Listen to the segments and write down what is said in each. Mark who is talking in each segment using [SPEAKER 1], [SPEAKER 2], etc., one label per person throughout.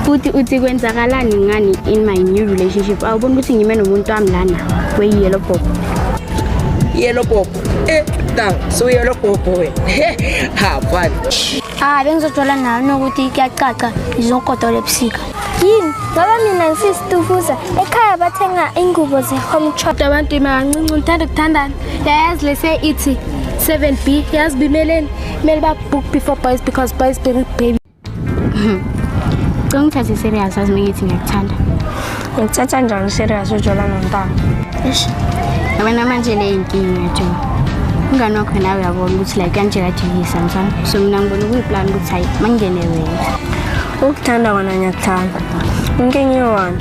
[SPEAKER 1] futhi uthi kwenzakalani ngani in my new relationship awubona ukuthi ngime nomuntu wami lana kweyiyelo bhobho
[SPEAKER 2] yelo bhobho eh dang so yelo bhobho we ha fani ah bengizojola
[SPEAKER 3] nawe nokuthi kuyacaca ngizokodola ebusika yini ngoba mina ngisisitufuza ekhaya bathenga ingubo ze-home chop abantu imancinci
[SPEAKER 1] ngithanda ukuthandana yayazi lese ithi 7 b yazi bimeleni kumele babhook before boys because boys baby Cela ngithathe serious azi ngithi ngiyakuthanda. Ngithatha
[SPEAKER 3] njani serious ujola nontanga? Eish.
[SPEAKER 1] Yabona manje le inkinga nje. Ungani wakho nawe uyabona ukuthi la kanje kadilisa mfana. So mina ngibona kuyiplan ukuthi hayi mangene wena. Ukuthanda kona
[SPEAKER 3] ngiyakuthanda. Inkinga iwona.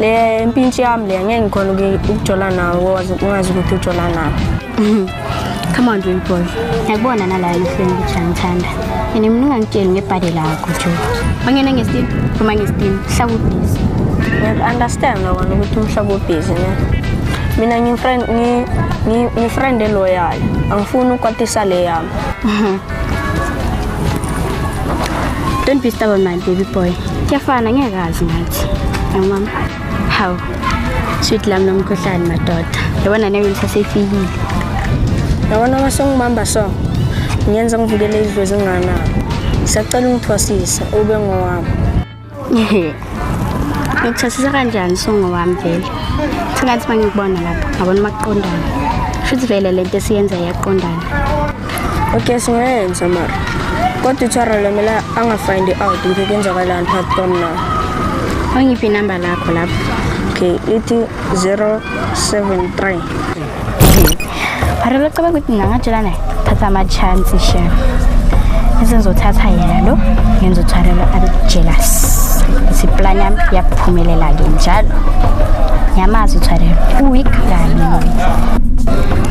[SPEAKER 3] Le mpintshi yami le ngeke ngikhona ukujola nawe wazi ungazi ukuthi ujola nawe. Come on,
[SPEAKER 1] dream boy. Ngiyakubona nala emehlweni ukuthi angithanda. Yena mina ungangitsheli ngebhadi lakho, Joe. Ongena ngesitini, phuma ngesitini. Hlaba ubhizi. Ngiyaku-understand
[SPEAKER 3] lo wena ukuthi umhlaba ubhizi ne. Mina ngifriend ngi ngi- ngifriend eloyal. Angifuni ukwatisa le yami.
[SPEAKER 1] Don't be stubborn, my baby boy. Kuyafana, ngeke kazi ngathi. Yangibamba. Hawu. Sweet lam nomkhuhlane madoda. Yabona nawe ngisasefikile.
[SPEAKER 3] Yabona uma songibamba so. Ngiyenza ngivukele idlozi ngana. Sacela ungithwasisa ube ngowami.
[SPEAKER 1] Ngikuthwasisa kanjani songo wami vele? Sengathi mangikubona lapha, ngabona maqondana. Futhi vele lento esiyenza yaqondana.
[SPEAKER 3] okay singayenza mara kodwa uthara lomela angafind out ukuthi kwenzakalani phakathi kwami na angiphi
[SPEAKER 1] inamba lakho lapho okay ithi 073 Barelo caba ukuthi ngingatshelana naye thatha ama-chance chef esengizothatha yena lo ngenza uthwarelo abe jealous ithi plan yami yaphumelela-ke njalo ngiyamazi uthwarelo uweak kanye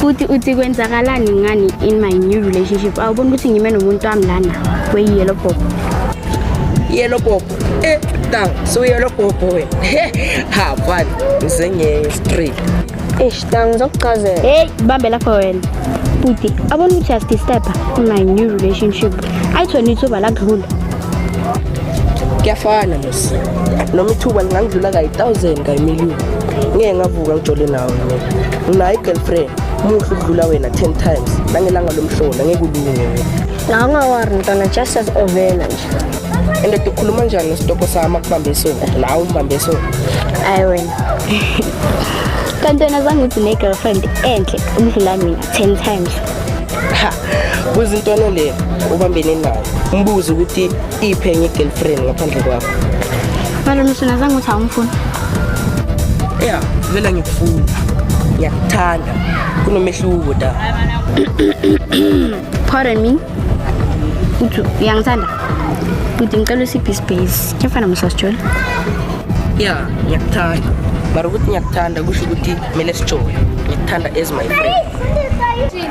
[SPEAKER 1] futhi uthi kwenzakalani ngani in my new relationship awubona ukuthi ngime nomuntu wami lana kweyiyelo bhobho
[SPEAKER 2] yelo bhobho e eh, da suyelo bhobho wena ha mfana ngizengenye straight eish da
[SPEAKER 3] ngizokuchazela heyi bambe lapho
[SPEAKER 1] wena futhi abona ukuthi asdisturba in my new relationship ayithona ithuba lakudlula
[SPEAKER 2] kuyafana lesi noma ithuba lingangidlula kayi-thousand kayi-million ngeke ngavuka ngijole nawe mina nginayo i-girlfriend muhle ukudlula wena ten times nangelanga lomhlola ngeke ulunge ngawungawari
[SPEAKER 3] mntwana just as ovela nje and ukhuluma
[SPEAKER 2] njani nesitoko sami akubambe isoni nawe umbambe isoni ayi wena
[SPEAKER 1] kanti wena zange uthi ne-girlfriend enhle umdlula mina ten times
[SPEAKER 2] buza intwana le ubambene nayo umbuze ukuthi iphi enye i-girlfriend ngaphandle kwakho balo
[SPEAKER 1] msina zange uthi awumfuni
[SPEAKER 2] ya vele ngikufuna ngiyakuthanda kunomehluko da
[SPEAKER 1] pardon me uthi uyangithanda uthi ngicela usiphi isibhesi kuyafana msasitshole
[SPEAKER 2] ya ngiyakuthanda mara ukuthi ngiyakuthanda kusho ukuthi kumele sijole ngikuthanda as my friend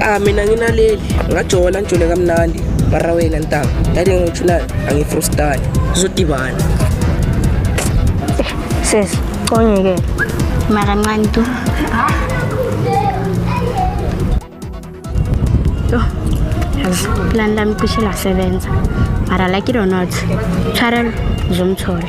[SPEAKER 2] ah mina nginaleli ngajola njole kamnandi mara wena ntanga yathi ngithuna angifrustani sizodibana
[SPEAKER 3] sesi conyeke mara
[SPEAKER 1] ncane tu plan lami cishe lasebenza mara like it or not tshwarelo zomthola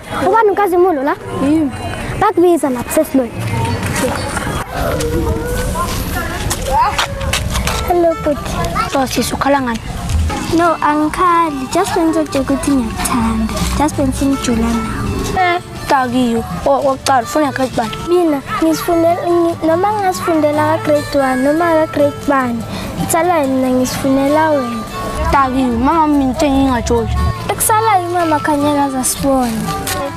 [SPEAKER 3] Ubani uNkazimulo la? Yimi. Bakubiza lapha sesilweni. Hello bhuti. So sisi ukhala ngani?
[SPEAKER 1] No,
[SPEAKER 3] angikhali. Just when ngizojeka ukuthi ngiyakuthanda. Just when singijula nawe. Eh, dakiyo.
[SPEAKER 1] Okokuqala ufuna yakhe bani? Mina ngisifundela
[SPEAKER 3] noma ngasifundela ka grade 1 noma ka grade 1. Kusalayo mina ngisifunela wena. Taki, mama
[SPEAKER 1] minto engingajoli. Ekusalayo
[SPEAKER 3] mama khanyeka azasibona.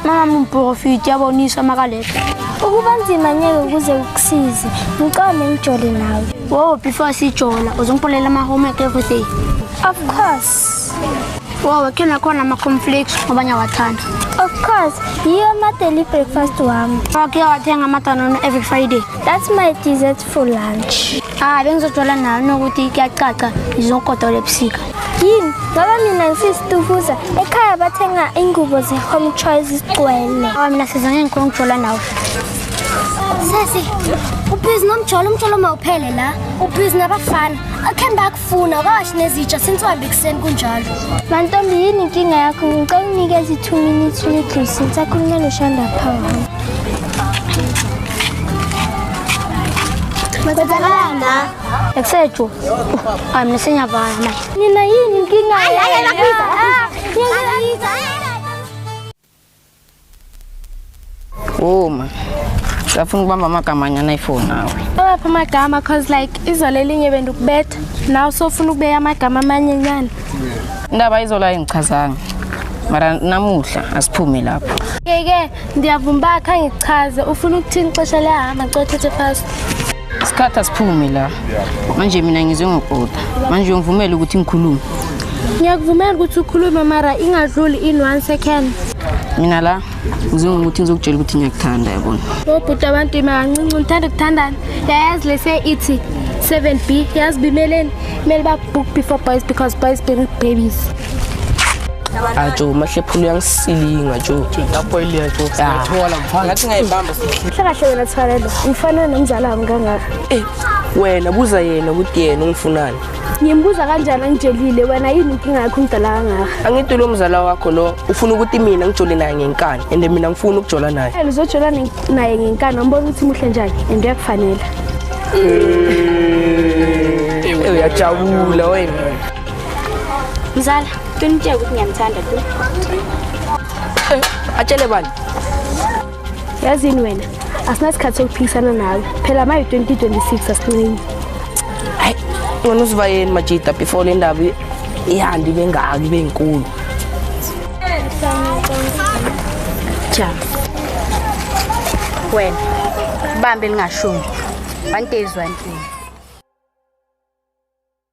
[SPEAKER 3] Mama
[SPEAKER 1] mumprofiti yabonisa amakaleta. Ukuba nzima
[SPEAKER 3] nyeke ukuze ukusize. Ngicome ngijole nawe. Wow, before
[SPEAKER 1] sijola uzongipholela ama homework everything. Of course.
[SPEAKER 3] Wow,
[SPEAKER 1] khona khona ama conflicts ngoba ngiyawathanda. Of course,
[SPEAKER 3] yiyo ama daily breakfast wami. Okay, wathenga
[SPEAKER 1] amadanono every Friday. That's my dessert
[SPEAKER 3] for lunch hayi bengizojola nayo
[SPEAKER 1] nokuthi kuyacaca ngizogodola ebusika yini ngoba
[SPEAKER 3] mina ngisisitufuza ekhaya bathenga ingubo ze-home choice zigcwele awa mina siza ngeke ngikhona
[SPEAKER 1] ukujola nawe
[SPEAKER 3] sesi ubhizi nomjolo umjolo mawuphele la ubhizi nabafana akhe mbakho Funa kahle nezitsha sinswambe ekuseni kunjalo. Mantombi yini inkinga yakho ngicela unikeze 2 minutes little since akhulunywa lo Shanda Power. Bazakalana. Eksejo.
[SPEAKER 1] Ay mina senyavaya manje. Nina yini inkinga?
[SPEAKER 3] Hayi hayi bakubiza.
[SPEAKER 1] Bakubiza.
[SPEAKER 4] Uma safuna ukubamba amagama anyana iphone nawe. Awapha amagama
[SPEAKER 3] cause like izolo elinye bendukubetha. Nawe sofuna ukubeka amagama amanye nyana. Indaba
[SPEAKER 4] izolo ayingichazanga. Mara namuhla asiphume lapho. Yeke
[SPEAKER 3] ndiyavuma uba khange kuchaze ufuna ukuthini ixesha liyahamba cothethe fast. isikhathi
[SPEAKER 4] asiphume la manje mina ngizwe ngokoda manje uyongivumela ukuthi ngikhulume ngiyakuvumela
[SPEAKER 3] ukuthi ukhulume mara ingadluli in one second mina la
[SPEAKER 4] ngizwe ngokuthi ngizokutshela ukuthi ngiyakuthanda yabona obhuti abantu
[SPEAKER 3] imakancinci ngithanda ukuthandana yayazi lese ithi 7 b yazi bimeleni kumele babhook before boys because boys bring babies
[SPEAKER 2] ajo umahlephula uyangisilinga jo lapho iliya jo siyathola mfana ngathi ngayibamba sihle kahle wena Thwalelo
[SPEAKER 3] umfana nomzala wami kangaka eh wena
[SPEAKER 2] buza yena ukuthi yena ungifunani ngimbuza kanjani
[SPEAKER 3] angijelile wena yini inkinga yakho umdala kangaka angithi lo mzala wakho
[SPEAKER 2] lo ufuna ukuthi mina ngijole naye ngenkani and mina ngifuna ukujola naye eh, uzojola naye
[SPEAKER 3] ngenkani ambona ukuthi muhle njani and uyakufanela
[SPEAKER 2] eh, eh, uyajabula wena
[SPEAKER 1] Mzala, qinitsheke ukuthi ngiyamthanda tu.
[SPEAKER 2] Eh, atshele bani?
[SPEAKER 3] Yazini wena, asinasikhathi sokuphikisana nawe. Phela maye 2026 asincini. Hayi,
[SPEAKER 2] ngona uziva yini majita before le ndaba ihandi bengaki benkulu.
[SPEAKER 1] Cha. Wena, bambe lingashumi. One day is one thing.